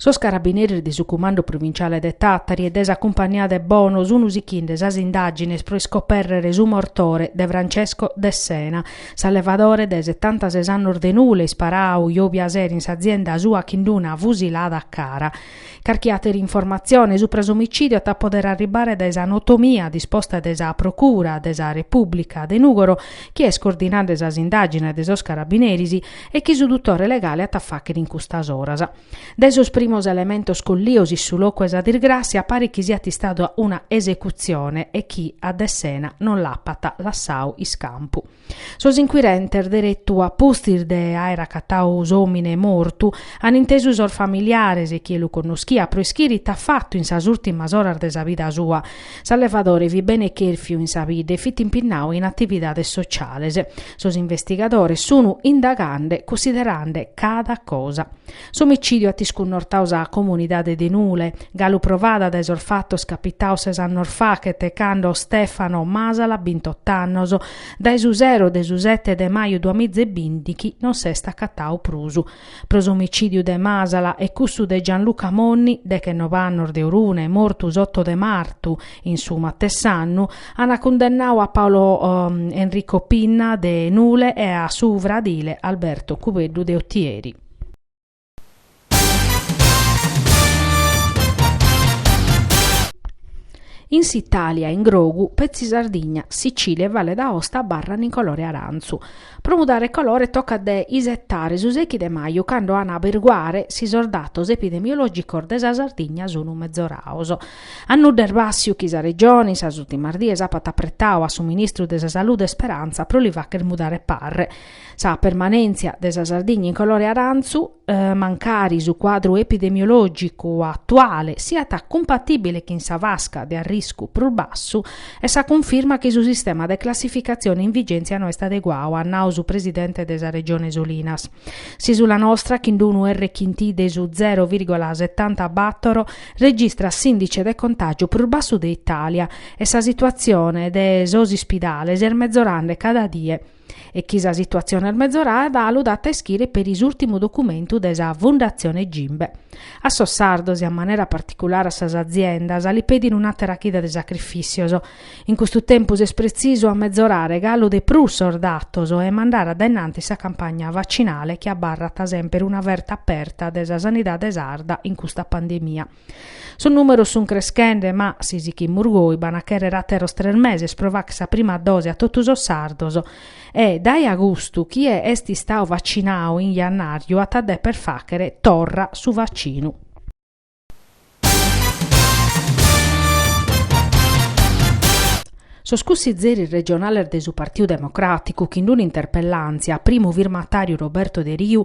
Sos carabineris de su Cumandu Provinciale de Tàtari e de sa Cumpagnia de Bono sun sichende sas indàgines pro iscobèrrere su mortore de Francesco Dessena, s'allevadore de setantases annos de Nule, isparadu jòbia sera in s'azienda sua chin d'una fusilada a cara. Carchi àtera informatzione supra s'omicìdiu at a podere arribbare dae sa notomia disposta de sa Procura de sa Repùblica de Nùgoro, chi est cordinende sas indàgines de sos carabineris e chi su dutore legale at a fàghere in custas oras. Dae sos primos elementos collidos in su locu 'e sa disgràssia paret chi siat istada una esecutzione e chi a Dessena non l'apat lassadu iscampu. Sos inquirentes, deretu a pustis de àere acatadu s'òmine mortu, ant intesu sos familiares e chie lu connoschiat pro ischire ite at fatu in sas ùrtimas oras de sa vida sua. S'allevadore fit bene chèrfiu in sa bidda e fit impinnadu in atividades sociales. Sos investigadores sunu indagande, cunsiderande cada cosa. S'omicìdiu at iscunnortadu sa comunidade de Nule, galu provada dae sos fatos capitados ses annos faghet, cando Stefano Masala, bintotto annos, dae su sero de su sete de maju duamiza e bìndichi non s'est acatadu prus. Pro s'omicìdiu de Masala e cussu de Gianluca Monni, dechenove annos de Orune, mortu s'oto de martu in su matessi annu, ant cundennadu a Paolo Enrico Pinna de Nule e a su fradile Alberto Cubeddu de Otieri. In s'Italia in grogu, petzi Sardigna, Sicilia e Valle d'Aosta abarran in colore arantzu. Pro mudare colore tocat de isetare su sèichi de maju cando an a averguare si sos datos epidemiologicos de sa Sardigna sun mezoraos. A nudda est bàssiu chi sa Regione in sas ultimas dies apat apretadu a su Ministru de sa Salude Speranza pro li facher mudare parre, Sa permanèntzia de sa Sardigna in colore arantzu, mancari su cuadru epidemiològicu atuale siat cumpatìbile chin sa fasca de arriscu prus bassu, est sa cunfirma chi su sistema de classificatzione in vigèntzia no est adeguadu, at nau su presidente de sa Regione Solinas. S'ìsula nostra, chin d-unu R chin T de su zero vìrgola setanta bàtoro, registrat s'ìndice de contàgiu prus bassu de Itàlia e sa situatzione de sos ispidales est mezorende cada die. e chi sa situatzione est mezorada lu dat a ischire peri s'ùrtimu documentu de sa Fundatzione Gimbe. A sos sardos e a manera particulare a sas aziendas li pedin un'àtera chida de sacrifìssios. In custu tempus est pretzisu amezorare galu de prus sos datos e mandare addainanti sa campagna vacinale chi abarrat semper una ferta aberta de sa sanidade sarda in custa pandemia. Sos nùmeros sunt creschende ma si sichimus goi b'an a chèrrere àteros tres meses pro fàghere sa prima dose a totu sos sardos e, dae agustu, chie est istadu vacinadu in jannàriu at a dèpere fàghere torra su vacinu. Sos cussizeris regionales de su Partiu Democràticu, chi in un'interpellàntzia a primu firmatàriu Roberto Deriu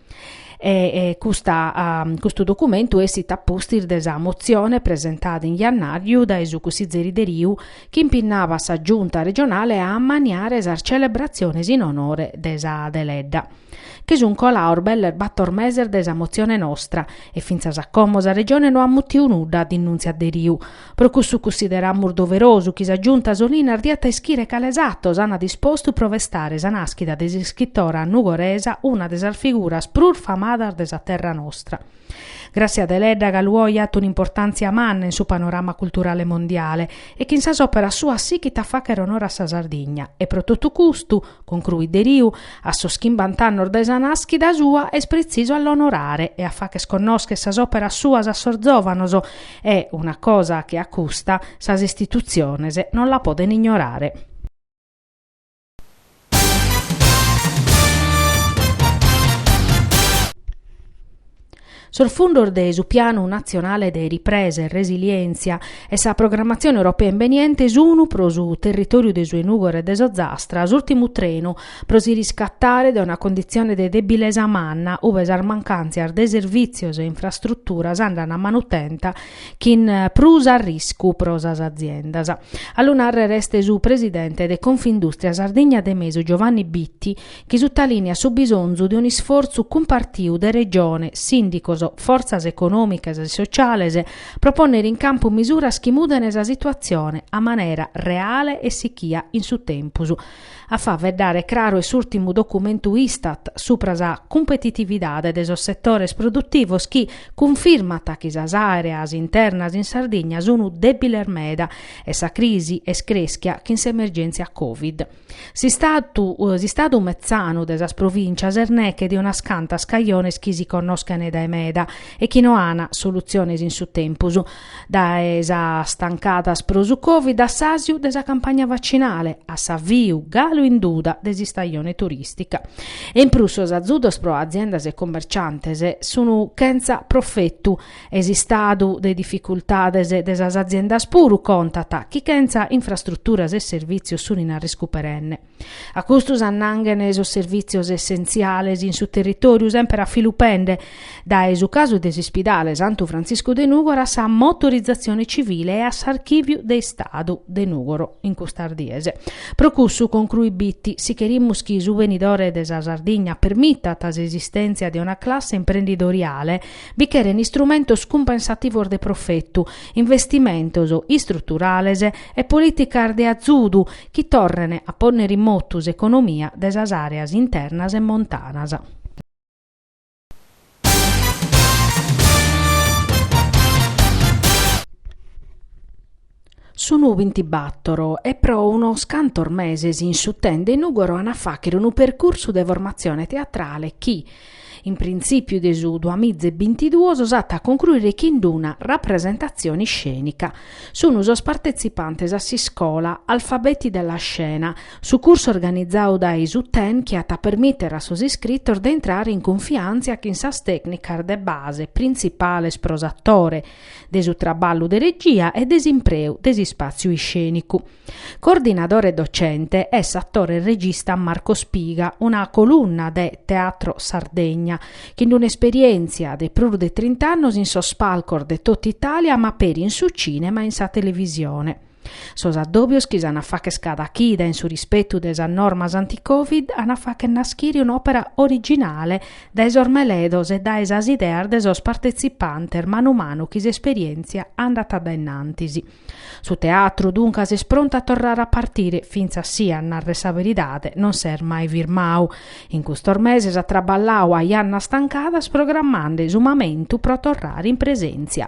e custa custu documentu essit a pustis de sa motzione presentada in jannàriu dae su cussizeri Deriu chi impinnabat sa Giunta regionale a ammaniare sas celebratziones in onore de sa Deledda. Che sun colados belles bator meses de sa motzione nostra e fintzas a como sa Regione no at mutiu nudda, dinnùntziat Deriu, Pro cussu cussideramus doverosu chi sa Giunta Solinas diat a ischire cales atos ana dispostu pro festare sa nàschida de s'iscritora nugoresa una de sas figuras prus famadas de sa terra nostra. Grazia Deledda galu oi at un'importàntzia manna in su panorama culturale mondiale e chin sas òperas suas sighit a fàghere onore a sa Sardigna e pro totu custu, concruit Deriu, a sos chimbant'annos de sa nàschida sua est pretzisu a l'onorare e a fàgher connòscher sas òperas suas a sos zòvanos E una cosa che a custa sas istitutziones non la poden ignorare. Sos fundos de su Pianu natzionale de ripresa e resilièntzia e sa programmatzione europea imbeniente sunu pro su territòriu de su 'e Nùgoro e de s'Ozastra s'ùrtimu trenu pro si riscatare dae una conditzione de debilesa manna ue sas mancàntzias de servìtzios e infrastruturas andan a manu tenta chin prus arriscu pro sas aziendas. A lu nàrrere est su presidente de Confindustria Sardigna de Mesu Giovanni Bitti chi sutalìniat su bisonzu de un'isfortzu cumpartiu de Regione, sìndicos, fortzas econòmicas e sociales pro pònnere in campu misuras chi mudene sa situatzione a manera reale e sichia in su tempus. a faeddare craru est s'ùrtimu documentu Istat supra sa cumpetitividade de sos setores produtivos chi cunfirmat chi sas àreas internas in Sardigna sunt dèbiles meda e sa crisi est crèschia chin s'emergèntzia Covid. S'istau s'istadu metzanu de sas provìntzias est neche de unas cantas cajones chi si connoschent dae meda e chi no ant solutziones in su tempus, Dae sas tancadas pro su Covid a s'àsiu de sa campagna vacinale a s'aviu, galu in duda, de s'istajone turìstica. E in prus sos azudos pro aziendas e cummerciantes sun chentza profetu e s'istadu de dificultades de sas aziendas puru contat chi chentza infrastruturas e servìtzios sun in arriscu perenne. A custu s'annanghen sos servìtzios essentziales in su territòriu, semper a filu pende, dae su casu de s'ispidale Santu Frantziscu de Nùgoro a sa motorizatzione tzivile e a s'archìviu de Istadu de Nùgoro in custas dies. Pro cussu concruit Bitti, si cherimus chi su benidore de sa Sardigna permitat s'esistèntzia de una classe imprendidoriale bi cheren istrumentos cumpensativos de profetu, investimentos istruturales e polìticas de azudu chi torren a pònnere in motu s'economia de sas àreas internas e montanas. Sun bintibator e pro unos cantos meses in su TEN de Nùgoro an a fàghere unu percursu de formatzione teatrale chi, In printzìpiu de su duas miza e bintiduos s'at a concruire chin d'una rapresentatzione iscènica. Sun sos partetzipantes a s'iscola Alfabeti della Scena, su cursu organizadu dae su TEN chi at a permìtere a sos iscritos de intrare in cunfiàntzia chin sas tècnicas de base printzipales pro s'atore, de su traballu de regia e de s'impreu de s'ispàtziu iscènicu. Coordinadore docente est s'atore e regista Marco Spiga, una colunna de Teatro Sardegna, chin d'un'esperièntzia de prus de trint'annos in sos palcos de totu Itàlia ma peri in su cìnema e in sa televisione. Sos addòbios chi s'an a fagher cada chida in su rispetu de sas normas anti-Covid an a fagher naschire un'òpera originale dae sos meledos e dae sas ideas de sos partetzipantes manu manu chi s'esperièntzia andat a dainnantis. Su teatru, duncas, est prontu a torrare a partire, fintzas si, a narrer sa beridade, non s'est mai firmau. In custos meses at traballau a jannas stancadas programmande su mamentu pro torrare in presèntzia.